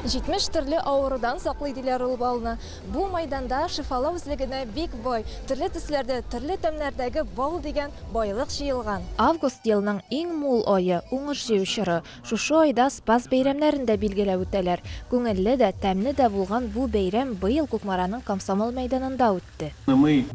70 төрле авырудан саклый диләр ул балны. Бу майданда шифалау үзлегенә бик бай, төрле төсләрдә, төрле тәмнәрдәге бал дигән байлык җыелган. Август елның иң мул ае, уңыш җыю чоры. Шушы айда Спас бәйрәмнәрен дә билгеләп үтәләр. Күңелле дә, тәмле дә булган бу бәйрәм быел Кукмараның Комсомол мәйданында үтте.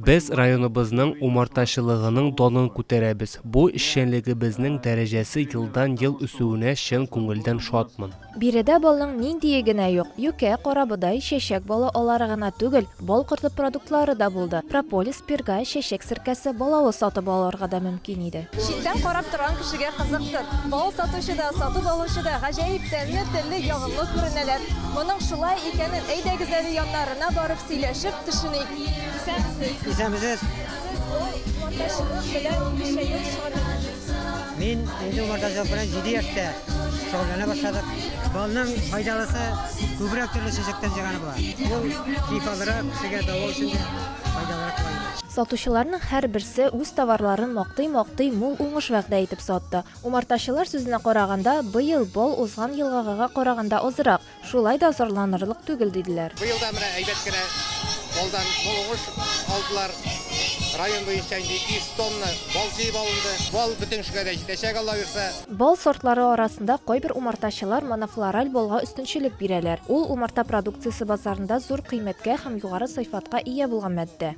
Без районыбызның умартачылыгының данын күтәрәбез. Бу эшчәнлегебезнең дәрәҗәсе елдан-ел үсүенә чын күңелдән шатмын. Биредә балның ниндие генә юк, юкә, карабодай, чәчәк балы алары гына түгел, бал корты продуктлары да булды. Прополис, пирга, чәчәк серкәсе, балавыз сатып алырга да мөмкин иде. Читтән карап торган кешегә кызыктыр. Бал сатучы да, сатып алучы да гаҗәеп тәмле, телле, ягымлы күренәләр. Моның шулай икәнен, әйдәгез әле яннарына барып сөйләшеп төшеник. Исәнмесез! Исәнмесез! Сез бал маташыгыз белән ничә ел шөгыльләнәсез? Мин инде умарта җылы белән җиде яшьтә шөгыльләнә башладык. Балның файдалысы күбрәк төрле чәчәктән җыйганы була. Ул шифалырак, кешегә дәва өчен дә файдалырак була инде. Сатучыларның һәрберсе үз товарларын мактый-мактый, мул уңыш вәгъдә итеп сатты. Умартачылар сүзенә караганда, быел бал узган елгагыга караганда азрак. Шулай да зарланырлык түгел, диделәр. Быел да менә әйбәт кенә балдан мул уңыш алдылар. Район буенча инде 200 тонна бал җыеп алынды. Бал бөтен кешегә дә җитәчәк, Алла бирса. Бал сортлары арасында кайбер умартачылар монофлораль балга өстенчелек бирәләр. Ул, умарта продукциясе базарында зур кыйммәткә һәм югары сыйфатка ия булган матдә.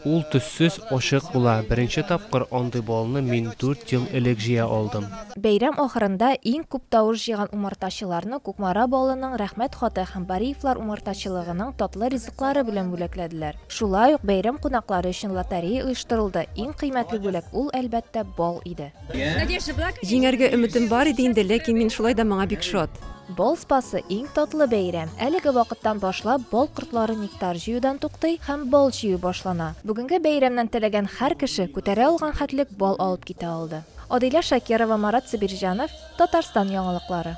Ул төссез, ачык була. Беренче тапкыр андый балны мин дүрт ел элек җыя алдым. Бәйрәм ахырында иң күп тавыш җыйган умартачыларны Кукмара балының Рәхмәт хаты һәм Бариевлар умартачылыгының татлы ризыклары белән бүләкләделәр. Шулай ук бәйрәм кунаклары өчен лотерея оештырылды, иң кыйммәтле бүләк ул, әлбәттә, бал иде. Җиңәргә өметем бар иде инде, ләкин мин шулай да моңа бик шат. Бал спасы иң татлы бәйрәм. Әлеге вакыттан башлап бал кортлары нектар җыюдан туктый һәм бал җыю башлана. Бүгенге бәйрәмнән теләгән һәр кеше күтәрә алган хәтлек бал алып китә алды. Адилә Шакирова, Марат Сабирҗанов, Татарстан яңалыклары.